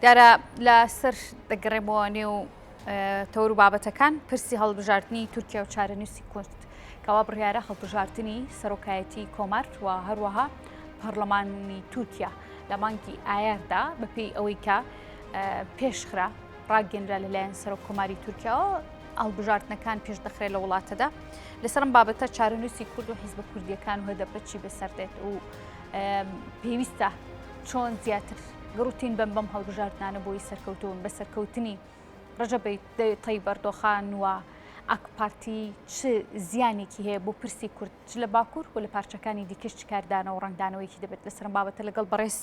دیارە لە سەر دەگەڕێمەوە نێو تەور و بابەتەکان پرسی هەڵبژاردننی تورکیا و چارەنووسی کورد کەوا بڕیارە هەڵبژاردننی سەرۆکایەتی کۆمار و هەروەها پەرلەمانی تورکیا لە مانگی ئایاردا بەپی ئەوەی کە پێشخرا ڕاگەنرا لەلایەن سەرۆک کۆماری تورکیاەوە ئەڵبژاردنەکان پێش دەخرێت لە وڵاتەدا لەسەرم بابەتە چارەنووسی کورد و حیزب کوردیەکان و هەدەپەچی بەسەردێت و پێویستە چۆن زیاتر گڕوتین بەم بەم هەڵبژاردنانە بۆی سەرکەوتوون بە سەرکەوتنی ڕژەبی تەی بەردۆخان وە ئاکپارتی چ زیانێکی هەیە بۆ پرسی کورد چ لە باکوور و لە پارچەکانی دیکەش چکاردانە و ڕنگدانەوەیکی دەبێت لە سەرم بابەتە لەگەڵ بەڕێز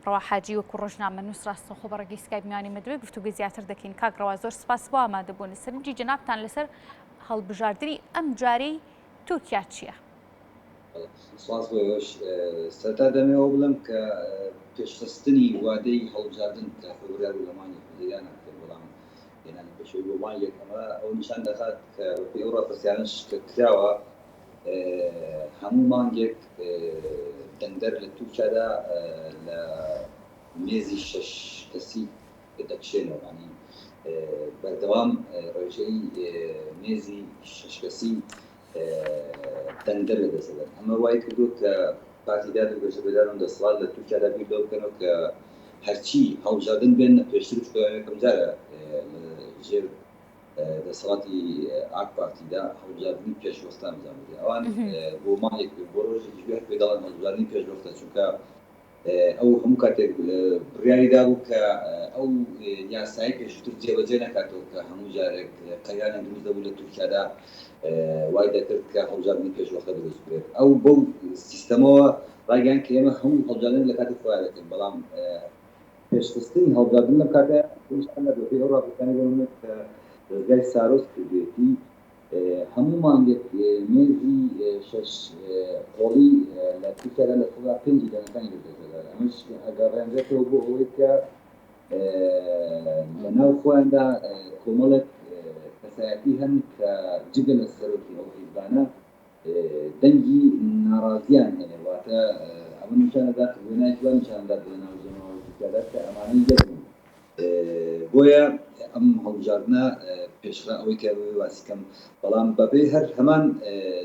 ڕواحاجی وەکو ڕۆژنامە نووس ڕاستەخۆ بە ڕێگەی سکای میوانی مەدوێ گفتوگە زیاتر دەکەین کاگڕەوە زۆر سپاس بۆ ئامادەبوون سەرنجی جەنابتان لەسەر هەڵبژاردنی ئەم جارەی تورکیا چییە؟ سوپاس بۆ ئێوەش. سەرەتا دەمەوێت ئەوە بڵێم کە پێشخستنی وادەی هەڵبژاردن کە فەبرای و لە مانگی حوزەیران هاتێ بەڵام هێنانی پێشەوەی بۆ مانگێک ئەمە ئەوە نیشان دەخات کە بەپێی ئەو ڕاپرسیانەش کە کراوە هەموو مانگێک دەنگدەر لە تورکیادا لە مێزی شەش کەسی دەکشێنەوە یانی بەردەوام ڕێژەی مێزی شەش کەسی دەنگدەر دەدەسەدەن، ئەمە وایکردووە کە پارتی داد و گەشە بێداران و دەسەڵات لە تورکیادا بیر لەوە بکەنەوە کە هەرچی هەڵبژاردن بێننە پێشتریش بۆ یەکەمجارە لەژێر دەسەڵاتی ئاک پارتیدا هەڵبژاردنی پێشوەختە ئەنجام بدرێت ئەوان بۆ مانگێک بۆ ڕۆژێکیش بێت پێ دەڵێن هەڵبژاردنی پێشوەختە چونکە ئەو هەموو کاتێک بڕیاری دابوو کە ئەو یاسایەی پێشووتر جێبەجێ نەکاتەوە کە هەموو جارێک قەیرانێک دروست دەبوو لە تورکیادا وای دەکرد کە هەڵبژاردنی پێشوەختە دروست بکرێت ئەو بەو سیستەمەوە ڕایگەیاند کە ئێمە هەموو هەڵبژاردن لە کاتی خۆیان دەکەین بەڵام پێشخستنی هەڵبژاردن لەم کاتە پێویستیان نەبوو بەپێی ئەو ڕاپۆرتانەی بۆ نموونە کە دەزگای سارۆس کردوویەتی هەموو مانگێک مێزی شەش قۆڵی لە سی سەدا لە سەدا پێنجی دانەکانی دەدرێتە بەر، ئەمەش ئەگەڕێنرێتەوە بۆ ئەوەی کە لە ناو خۆیاندا کۆمەڵێک کەسایەتی هەن کە جگە لە سەرۆکی ئەو حیزبانە دەنگی ناڕازییان هەیە، واتە ئەمە نیشان دەدات، وێنایەکی وا نیشان دەدات لە ناو جەماوەری تورکیادا کە ئەمانە یەک بوون. بۆیە ئەم هەڵبژاردنە پێشڕا ئەوەی کە ئەوەیە باسی کەم بەڵام بەپێی هەر هەمان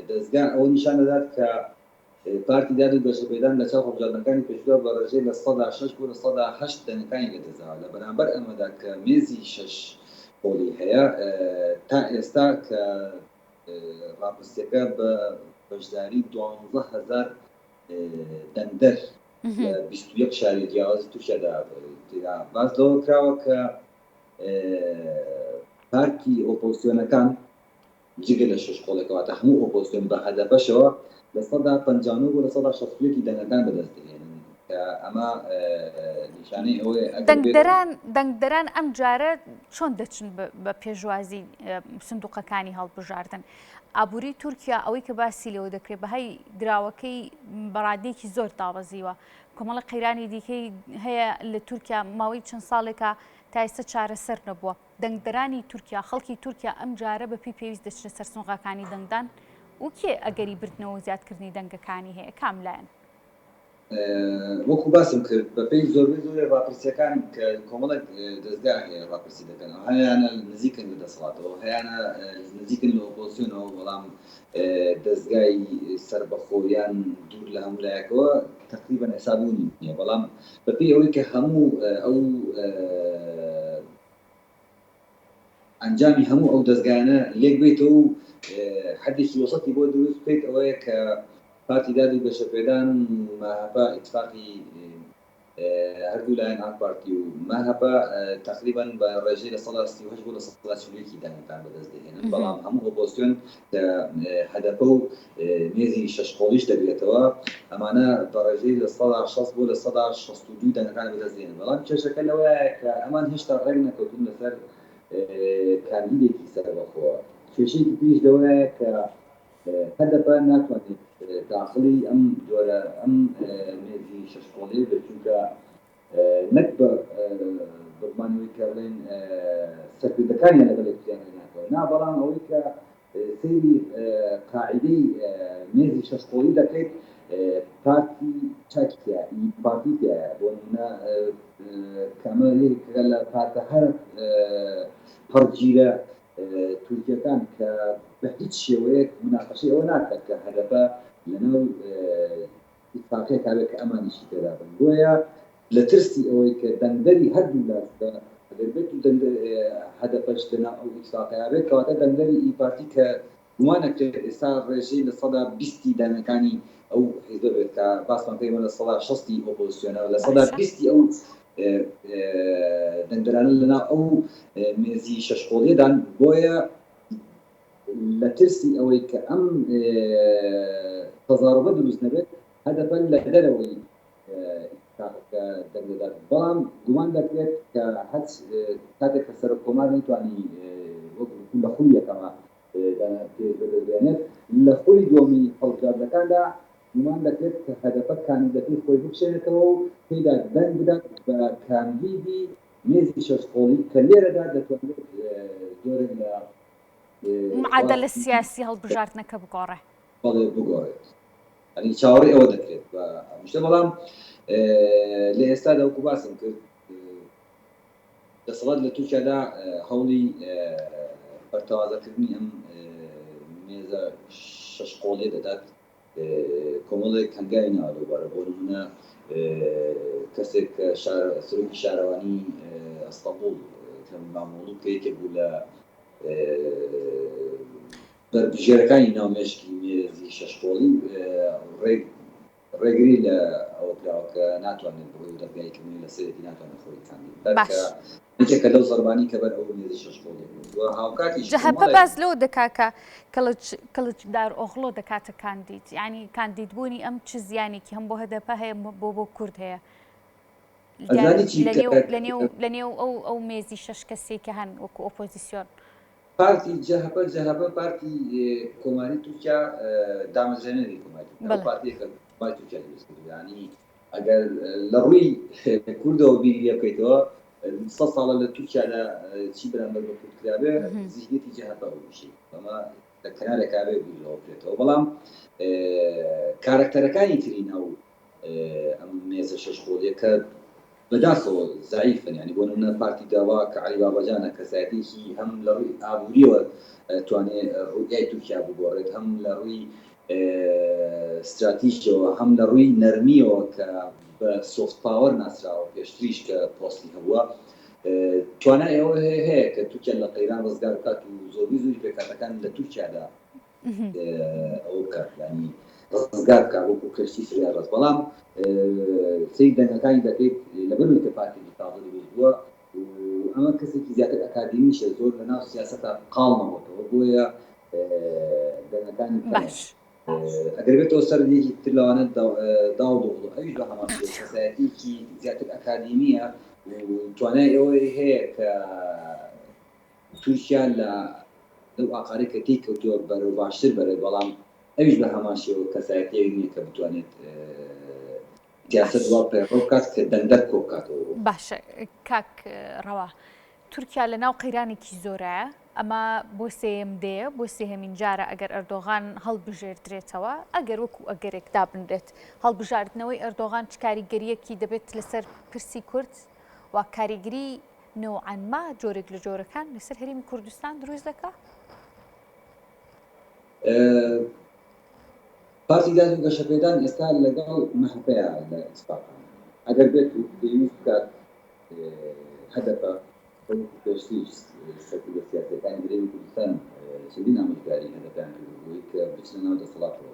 دەزگا ئەوە نیشان دەدات کە پارتی داد و گەشەپێدان لە چاو هەڵبژاردنەکانی پێشودا بە ڕێژەی لە سەدا شەش بۆ لە سەدا هەشت دەنگەکانی لێ دۆزاوە لە بەرامبەر ئەمەدا کە مێزی شەش قۆڵی هەیە تا ئێستا کە ڕاپرسیەکە بە بەشداری دوانزە هەزار دەنگدەر لە بیست و یەک شاری جیاوازی تورکیادا تێدا باس لەوە کراوە کە پارتی ئۆپۆزسیۆنەکان جگە لە شش کۆڵێک کەواتە هەموو ئۆپۆزسیۆن بە هەدەپەشەوە لە سەدا پەنجانۆ بۆ لە سەدا شەستویەکی دەنگەکان بەدەست دێنن کە ئەمە نیشانەی ئەوەیە ئەگەر بێت- دەنگدەران دەنگدەران ئەم جارە چۆن دەچن بە پێشوازی سندوقەکانی هەڵبژاردن ئابووری تورکیا ئەوەی کە باسی لێوە دەکرێت بەهای دراوەکەی بەڕادەیەکی زۆر دابەزیوە کۆمەڵە قەیرانی دیکەی هەیە لە تورکیا ماوەی چەند ساڵێکە تایسە چارەسەر نەبووە دەنگدەرانی تورکیا خەڵکی تورکیا ئەم جارە بە پێی پێویست دەچنە سەرسنغاکانی دەنگدان وکێ ئەگەری بردنەوە زیادکردنی دەنگەکانی هەیە کاملایەن وەکو باسم کرد بەپێی زۆربەی زۆری ڕاپرسیەکان کە کۆمەڵێک دەزگا هەیە ڕاپرسی دەکەن ئەوها هەیانە نزیکن لە دەسەڵاتەوە هەیانە نزیکن لە ئۆپۆزسیۆنەوە بەڵام دەزگای سەربەخۆ یان دوور لە هەموو لایەکەوە تقریبا حسابوونی نیە بەڵام بەپێی ئەوەی کە هەموو ئەو ئەنجامی هەموو ئەو دەزگایانە لێک بەیتەوە و حەدێکی وەسەتی بۆ دروست بکەیت ئەوەیە کە پارتی داد و گەشەپێدان و مەهەپە ئیتفاقی هەردوو لایەن ئاک پارتی و مەهەپە تقریبا بە ڕێژەی لە سەدا سی و هەشت بۆ لە سەدا چل و یەکی دانەتان بەدەست دەهێنن بەڵام هەموو ئۆپۆزسیۆن کە هەدەپە و مێزی شەش قۆڵیش دەگرێتەوە، ئەمانە بە ڕێژەی لە سەدا شەست بۆ لە سەدا شەست و دوو دەنگەکان بەدەست دێنن، بەڵام کێشەکە لەوەیە کە ئەمان هێشتا ڕێک نەکەوتوون لەسەر کاندیدێکی سەربەخۆ، کێشەیەکی تریش لەوەیە کە هەدەپە ناتوانێت داخڵی ئەم جۆرە ئەم مێزی شەش قۆڵیەی بێت، چونکە نەک بە بڕبانی ئەوەی کە بڵێن سەرکردەکانیان لە بەرێ کوتیان هێناکەوە، نا بەڵام ئەوەی کە سەیری قاعیدەی مێزی شەش قۆڵی دەکەیت پارتی چاکی تیایە ئی پارتی تیایە بۆ نمونە کە ئەمە یەکێکە لە پارتە هەرە پەڕگیرە تورکیەکان کە بە هیچ شێوەیەک مناقەشەی ئەوە ناکات کە هەدەپە لەناو ئیتفاقیەت هەبێت کە ئەمانیشی تێدا بن بۆیە لە ترسی ئەوەی کە دەنگدەری هەردوو لا جودا ئەگەر بێت و دەنگ هەدەپەش لەناو ئەو ئیتفاقەیا بێت کەواتە دەنگدەری ئی پارتی کە گومان ئەکرێت ئێستا ڕێژەی لە سەدا بیستی دانەکانی ئەو حیزبە بێت کە باسمان کردی ئێمە لە سەدا شەستی ئۆپۆزسیۆنە لە سەدا بیستی ئەو دەنگدەرانە لەناو ئەو مێزی شەشقۆڵیەدان بۆیە لە ترسی ئەوەی کە ئەم تەزاروبە دروست نەبێت، هەدەپە لە دەرەوەی ئیتیفاقەکە دەنگ دەدات، بەڵام گومان دەکرێت کە هەچ کاتێک کە سەرۆک کۆمار نەیتوانی وەک وتم لە خولی یەکەمە دانپێی ببێنێت، لە خولی دووەمی هەڵبژاردنەکاندا گومان دەکرێت کە هەدەپە کاندیدەکەی خۆی بکشێنێتەوە و پێیدا دەنگ بدات بە کاندیدی مێزی شەش قۆڵی کە لێرەدا دەتوانرێت جۆرێک لە معادلە سیاسی هەڵبژاردنەکە بگۆڕێ. بەڵێ بگۆڕێت ئەنی چاوەڕی ئەوە دەکرێت بە ئەمشتە بەڵام لە ئێستا دەوەکو باسم کرد دەسەڵات لە تورکیادا هەوڵی بەرتەوازەکردنی ئەم مێزە شەش قۆڵێ دەدات کۆمەڵێک هەنگاوی ناوە لەوبارە، بۆ نموونە کەسێک کە سەرۆکی شارەوانیی ئەستەنبوڵ ئیکرەم ئیمامئۆغڵو کە یەکێک بوو لە بەربژێرەکانی ناو مێشکی مێرزی شەشقۆڵی ڕێگری لە ئەوە کراوە کە ناتوانێت بڕۆی و دەزگاییکردنی لە سەرێتی ناتوانێت خۆی کاندید بکات کە جەهەپە باس لەوە دەکات کە کڵچ کڵچدارئۆغڵۆ دەکاتە کاندید، یانی کاندید بوونی ئەم چ زیانێکی هەم بۆ هەدەپە هەیە بۆ بۆ کورد هەیە لە نێو ئەو مێزی شەش کەسەی کە هەن وەکو ئۆپۆزیسیۆن؟ ئەگەر لە ڕووی کوردەوە بیری لێ بکەیتەوە سەد ساڵە لە تورکیادا چی بەرامبەر بە کورد کرابێ زیهنیەتی جەهەپە بووشی ئەمە لە کەنارێکا بێ بیرەوە بکرێتەوە بەڵام کارەکتەرەکانی تری ناو ئەم مێزە شەش خۆڵیە کە بەداخەوە زەعیفن یانی بۆ نمونە پارتی گەوە کە عەلی باباجانە کەسایەتیەکی هەم لە ڕوی ئابوریەوە توانێ ڕوئای تورکیا بگۆڕێت هەم لە ڕوی ستراتیژیەوە هەم لە ڕوی نەرمیەوە کە بە سۆفت پاوەر ناسراوە پێشتریش کە پۆستی هەبوە توانای ئەوە هەیە کە تورکیا لە قەیران ڕزگار بکات و زۆربەی زۆری پێکهاتەکان لە تورکیادا ئەوە بکات یانی ڕزگار بکات وەکو کەشتی سریای ڕەز بەڵام سەی دەنگەکانی دەکەیت لەبەروی کە پارتی دیکتاتۆری بێت بووە و ئەمە کەسێکی زیاتر ئەکادیمیشە زۆر لە ناو سیاسەتا قاڵ نەبووەوە بۆیە دەنگەکانی باش ئەگەر بێتەوە سەر یەکی تر لەوانە داو دۆڵ ئەویش بە هەمان شێوە کەسایەتیکی زیاتر ئەکادیمیە و توانای ئەوەی هەیە کە تورکیا لە لەو ئاقارەی کە تێی کەوتووە بەرەو باشتر بەرێت، بەڵام ئەویش بە هەمان شێوە کەسایەتییەک نییە کە بتوانێت سیاسەت وا پەیڕەو بکات کە دەنگدەر کۆ بکاتەوە بۆ. باشە کاک ڕەوا، تورکیا لە ناو قەیرانێکی زۆرایە، ئەمە بۆ سێیەم دێیە، بۆ سێهەمین جارە ئەگەر ئەردۆغان هەڵبژێردرێتەوە، ئەگەر وەکوو ئەگەرێک دابنرێت، هەڵبژاردنەوەی ئەردۆغان چ کاریگەرییەکی دەبێت لەسەر پرسی کورد و کاریگری نوعا ما جۆرێک لە جۆرەکان لەسەر هەرێمی کوردستان دروست دەکا؟ پارتی داد و گەشەپێدان ئێستا لەگەڵ مەهەپەیە لە ئیسپاقان ئەگەر بێت و پێویست بکات هەدەپە وەکو پێشتری سەرکردە سیاسیەکانی هەرێمی کوردستان چەندین ئامۆژگاری هەدەپیان کردبووی کە بچنە ناو دەسەڵاتەوە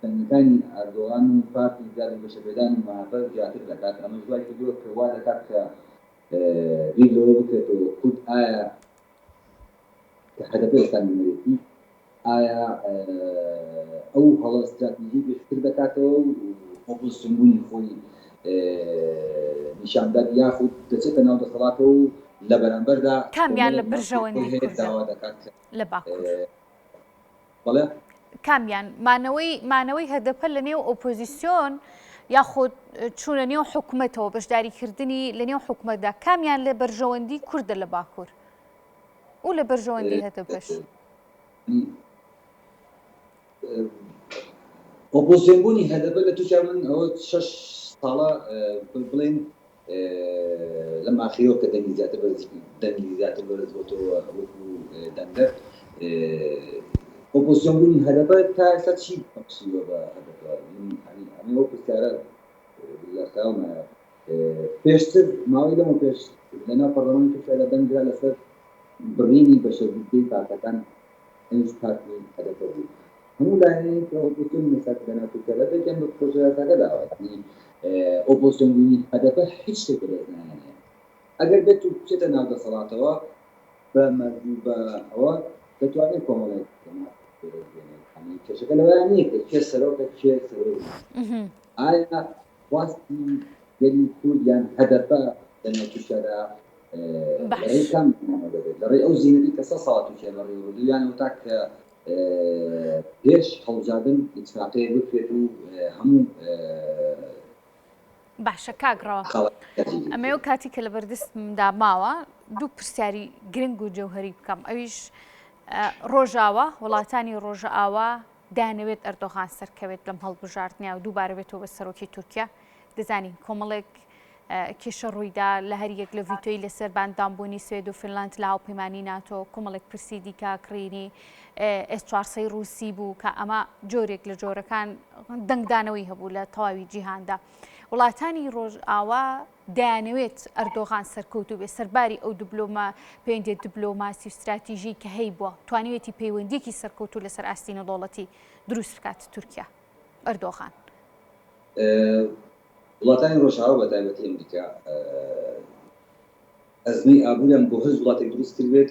تەنگیەکانی ئاردۆغان و پارتی زیاد بە گەشەپێدان و مەهەپە زیاتر دەکات، ئەمەش وای کردووە کە وا دەکات کە بیر لەوە بکرێتەوە کورد ئایا کە هەدەپە ئێستا نوێنەرێتی ئایا ئەو هەڵە ستراتیژی بێشتر دەکاتەوە و ئۆپۆزسیۆن بوونی خۆی نیشان بدات یاخود دەچێتە ناو دەسەڵاتەوە و لە بەرامبەردا کامیان لە بەرژەوەندی کورد داوا دەکات کە لە باکوور. بەڵێ. کامیان مانەوەی مانەوەی هەدەپە لە نێو ئۆپۆزیسیۆن یاخود چوونە نێو حکوومەتەوە بەشداریکردنی لە نێو حکوومەتدا کامیان لە بەرژەوەندی کووردە لە باکوور و لە بەرژەوەندی هەتە بەش ئۆپۆزیۆنبوونی هەدەبە لە تورکیا من ئەوە شش ساڵە بڵێن لەم ئاخیرەوە کە دەنگی زیاتر بەرز دەنگی زیاتر بەرز بۆتەوە وەکو دەنگدەر ئۆپۆزسیۆن بوونی هەدەپە تا ئێستا چی بەخشیوە بە هەدەپە ئەمە وەک پرسیارە لە خەیاڵمایە پێشتر ماوەی لەمە پێش لەناو پەرلەمانی تورکیادا دەنگدرا لەسەر بڕینی بەشەربووی پارتەکان ئەویش پارتی هەدەپە بوو. هەموو لایەنێک کە ئۆپۆزسیۆنی مەساتی لەناوچەی کەرەتەکیان بە پڕۆژە یاساکە داوایان کرد. یەعنی ئۆپۆزسیۆن بوونی هەدەپە هیچ شتێک بەدەست ناهێنێ. ئەگەر بێت و بچێتە ناو دەسەڵاتەوە بە مەرج و بە ئەوە دەتوانێت کۆمەڵێک جەماعەت بەدەست بێنێت. یەعنی کێشەکە لەوەیان نییە کە کێ سەرۆکە کێ سەرۆک نییە. ئایا خواستی گەلی کورد یان هەدەپە لەناو تورکیادا باش لەڕێی ئەو زینەی کە سە ساڵ تورکیا بەڕێوە بردوو یان ئەو تاک کە پێش هەڵبژاردن ئیتفاقەیە بکرێت و هەموو باشە کاک ڕەوە ئەمەو کاتی کە لە بەردەستمدا ماوە دوو پرسیاری گرنگ و جەوهری بکەم ئەویش ڕۆژاوە وڵاتانی ڕۆژئاوا دەیانەوێت ئەردۆغان سەرکەوێت لەم هەڵبژاردنە و دووبارە بێتەوە بە سەرۆکی تورکیا، دەزانین کۆمەڵێک کێشە ڕوویدا لە هەریەک لە ڤیتۆی لەسەر باندانبوونی سوێد و فنلاند لە هاوپەیمانی ناتۆ، کۆمەڵێک پرسی دیکە کڕینی ئێس چوار سەی ڕووسی بوو کە ئەمە جۆرێک لە جۆرەکان دەنگدانەوەی هەبوو لە تەواوی جیهاندا. وڵاتانی ڕۆژئاوا دەیانەوێت ئەردۆغان سەرکەوتوو بێت، سەرباری ئەو دبلۆما پێوەندییە دبلۆماسی و ستراتیژیی کە هەیبووە، توانیویەتی پەیوەندییەکی سەرکەوتوو لەسەر ئاستی نێودەوڵەتی دروست بکات. تورکیا، ئەردۆغان. وڵاتانی ڕۆژئاوا بە تایبەتی ئەمریکا ئەزموونی ئابووریان بۆ هەر وڵاتێک دروست کردبێت،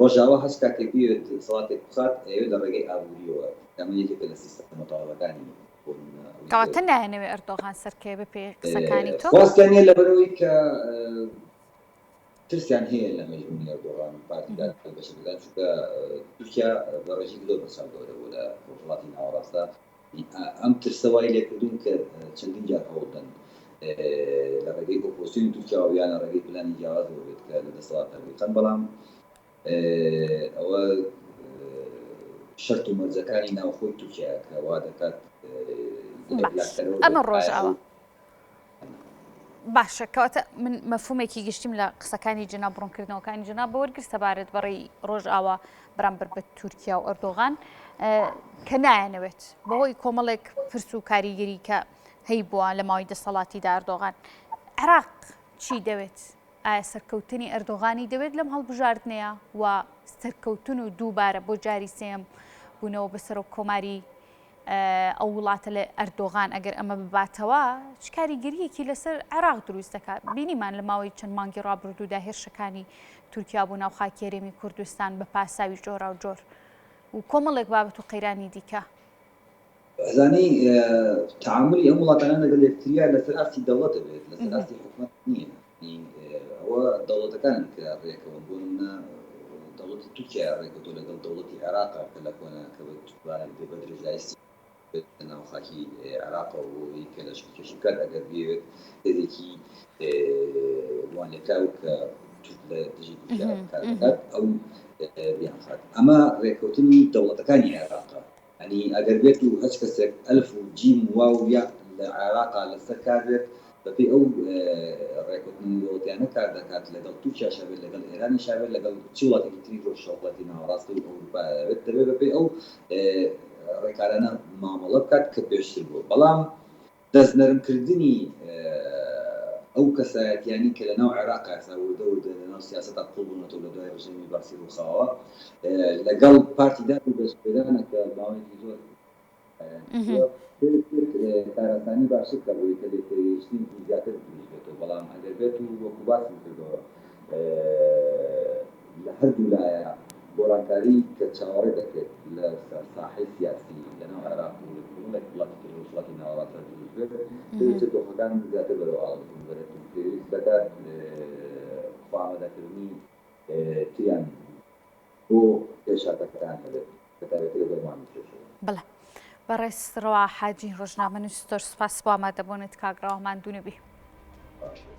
ڕۆژاوا هەست کاتێک بیەوێت دەسەڵاتێک بخات ئەیەوێت لە ڕێگەی ئابوورییەوە بکات، ئەمە یەکێکە لە سیستەمە مەتاڵەکانی بۆ نموونە ئەوەی کە. کەواتە نایانەوێت ئەردۆغان سەرکەوێت بەپێی قسەکانی تۆ؟ خواستیان نییە لەبەرئەوەی کە ترسیان هەیە لە مەزبوونی ئەردۆغان و پارتی دا لە بەشێک لە چونکە تورکیا بە ڕێژەیەکی زۆر بەرچاو گەورە بووە لە ڕۆژهەڵاتی ناوەڕاستدا ئەم ترسە وای لێکردوون کە چەندین جار هەوڵدەن لە ڕێگەی ئۆپۆزسیۆنی تورکیاوە یان لە ڕێگەی پلانی جیاوازەوە بێت کە لە دەسەڵاتدا بێتن، بەڵام ئەوە شەرت و مەرجەکانی ناوخۆی تورکیایە کە وا دەکات. ئەمە ڕۆژاوا. باشە کەواتە من مەفهومێکی گشتیم لە قسەکانی جنا بڕونکردنەوەکانی جنا بە وەرگر سەبارەت بەڕی ڕۆژئاوا بەرامبەر بە تورکیا و ئەردۆغان کە نایەنەوێت بەهۆی کۆمەڵێک پرس و کاریگەری کە هەی بووە لە ماوەی دەسەڵاتی داردۆغان عراق چی دەوێت ئایا سەرکەوتنی ئەردۆغانی دەوێت لەم هەڵبژاردنەیە و سەرکەوتن و دووبارە بۆ جاری سێم بوونەوە بەسەر و کۆماری ئەو وڵاتە لە ئەردۆغان ئەگەر ئەمە بباتەوە چ کاریگەریەکی لەسەر عێراق دروست دەکات بینیمان لە ماوەی چەند مانگی ڕابردوودا هێرشەکانی تورکیا بۆ ناو خاکێرێمی کوردستان بە پاساوی جۆرا و جۆر و کۆمەڵێک بابەت و قەیرانی دیکە ئەزانی تعاملی ئەم وڵاتانە لەگەڵ یەکتریا لەسەر ئاستی دەوڵەت دەبێت لەسەر ئاستی حکومەت نییە ی ئەوە دەوڵەتەکانی تیا ڕێکەون بۆ نمونە دەوڵەتی تورکیا ڕێکەوتوە لەگەڵ دەوڵەتی عێراقا کە لە کۆنە کە بە توانێت بێ بەدرێژایی سی بێت لە ناو خاکی عێراقەوە بۆ ئەوەی کە لەشکر کێشی بکات ئەگەر بیەوێت هێزێکی وانێکاو کە تورک لە دژی تورکیا کار بکات ئەو بیانخات ئەمە ڕێکەوتنی دەوڵەتەکانی عێراقا یانی ئەگەر بێت و هەچ کەسێک ئەلف و جیم و واو و یا لە عێراقا لە سەر کار بێت بە پێی ئەو ڕێکەوتنە نیمەوەتیانە کار دەکات لە گەڵ تورکیاشا بێت لە گەڵ ئێرانیشا بێت لە گەڵ چ وڵاتێکی تری ڕۆژهەڵاتی ناوەڕاست و ئەوروپایا بێت دەبێت بە پێی ئەو ڕێکارانە مامەڵە بکات کە پێشتر بووە بەڵام دەست نەرم کردنی ئەو کەسایەتیانەی کە لەناو عێراق یاسا وردە وردە لەناو سیاسەتا قوڵ بونەتەوە لە دوای رژێمی بەعسی روخاوە لەگەڵ پارتی دا و دەست پێدانە کە ماوەیەکی زۆر لایەنگرتوە هێز بێت کاراسانی باشتر کە بۆی کە لێک تێگەیشتنێکی زیاتر دروست بێتەوە بەڵام ئەگەر بێت و وەکو باسم کردەوە لە هەردوو لایە گۆڕانکاری کە چاوەڕێ دەکرێت لەسەر ساحەی سیاسی لەناو عێراق و لە کۆمەڵێک وڵاتی تری ڕۆژهەڵاتی ناوەڕاستدا دروست بێت، پێدەچێت دۆخەکان زیاتر بەرەو ئاڵۆزبوون بەرێت و پێویست دەکات خوئامادەکردنی تریان بۆ پێشهاتەکان هەبێت، بەتایبەتی لە دەورمان و پێشەوە. بەڵێ. بەڕێز ڕەوا حاجی، ڕۆژنامەنووس، زۆر سوپاس بۆ ئامادەبوونت. کاک ڕەوا ماندوو نەبی. باشبێت.